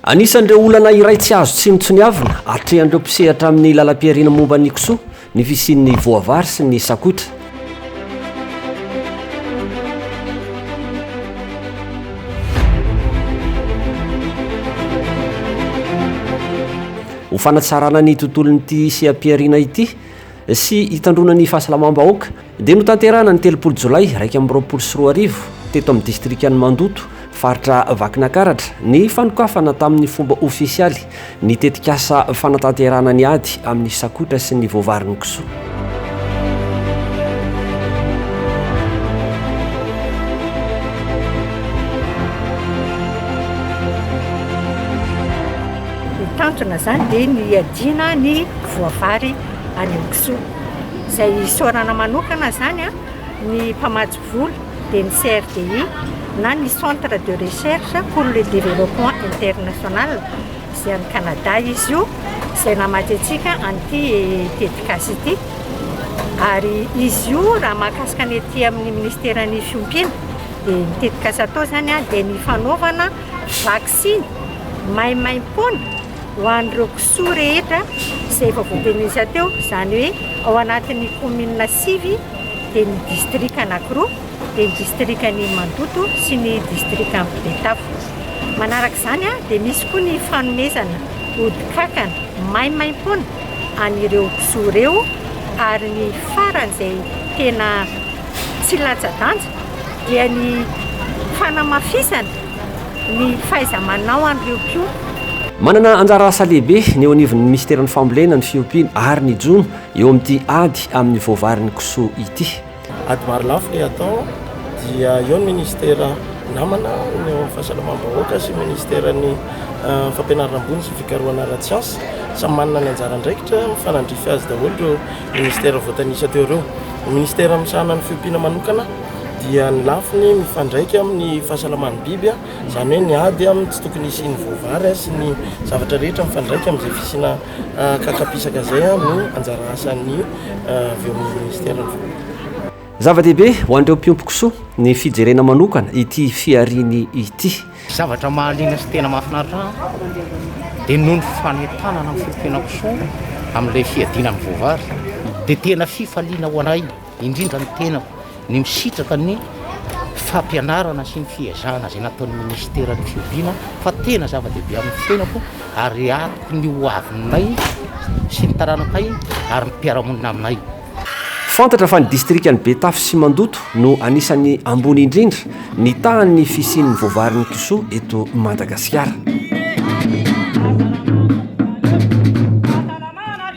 Anisan'ireo olana iray tsy azo tsinontsiniavina atrehan'ireo mpisehatra amin'ny lalam-pihariana momba ny kisoa ny fisian'ny voavary sy ny sakotra. Ho fanatsarana ny tontolon'ity seha-pihariana ity, sy hitandroana ny fahasalamam-bahoaka dia notanterahina ny telopolo jolay iraika amby roapolo sy roa arivo teto amin'ny distrikan'i Mandoto, faritra Vakinakaratra, ny fanokafana tamin'ny fomba ofisialy ny tetikasa fanatanterahana ny ady amin'ny sakotra sy ny voavarin'ny kisoa. Mitantona izany dia ny hiadiana ny voavary. any amin'ny kisoa. Izay isaorana manokana izany ny mpamatsy vola dia ny CRDI na ny Centre de Recherche pour le Développement International, izay any Canada izy io, izay namatsy antsika an'ity tetikasa ity. Ary izy io raha mahakasika ny ety amin'ny Ministeran'ny Fiompiana dia ny tetikasa atao izany dia ny fanaovana vaksiny maimaimpoana. ho an'ireo kisoa rehetra izay efa voabenesa teo, izany hoe ao anatin'ny kaominina sivy dia ny distrika anankiroa dia ny distrikan'i Mandoto sy ny distrikan'i Betafo. Manaraka izany dia misy koa ny fanomezana ody kankana maimaimpoana an'ireo kisoa ireo ary ny farany izay tena tsy latsa-danja dia ny fanamafisana ny fahaiza-manao an'ireo mpiompy. Manana anjara asa lehibe ny eo anivon'ny Minisiteran'ny Fambolena, ny Fiompiana ary ny Jono eo amin'ity ady amin'ny voavarin'ny kisoa ity. Ady marolafy ilay atao dia eo ny Minisitera namana ny eo amin'ny Fahasalamam-bahoaka sy ny Minisiteran'ny Fampianarana ambony sy ny Fikarohana ara-tsiansa. Samy manana ny anjara andraikitra mifanandrify azy daholo ireo Minisitera voatanisa teo ireo. Ny Minisitera misahana ny Fiompiana manokana. dia ny lafiny mifandraika amin'ny fahasalaman'ny biby, izany hoe ny ady amin'ny tsy tokony hisian'ny voavary sy ny zavatra rehetra mifandraika amin'izay fisiana kakapisaka izay no anjara asan'ny Minisiteran'ny Voalohany. Zava-dehibe ho an'ireo mpiompy kisoa ny fijerena manokana ity fihariany ity. Zavatra mahaliana sy tena mahafinaritra ahy dia noho ny fanentanana ny fiompiana kisoa amin'ilay fiadiana ny voavary dia tena fifaliana ho anay. indrindra ny tenako, ny misitraka ny fampianarana sy ny fiezahana izay nataon'ny Minisitera ny fihoviana fa tena zava-dehibe amin'ny fiainako ary atoko ny ho avinay sy ny taranakay ary ny mpiara-monina aminay. Fantatra fa ny Distrikan'i Betafo sy Mandoto no anisan'ny ambony indrindra ny tahan'ny fisian'ny voavarin'ny kisoa eto Madagasikara.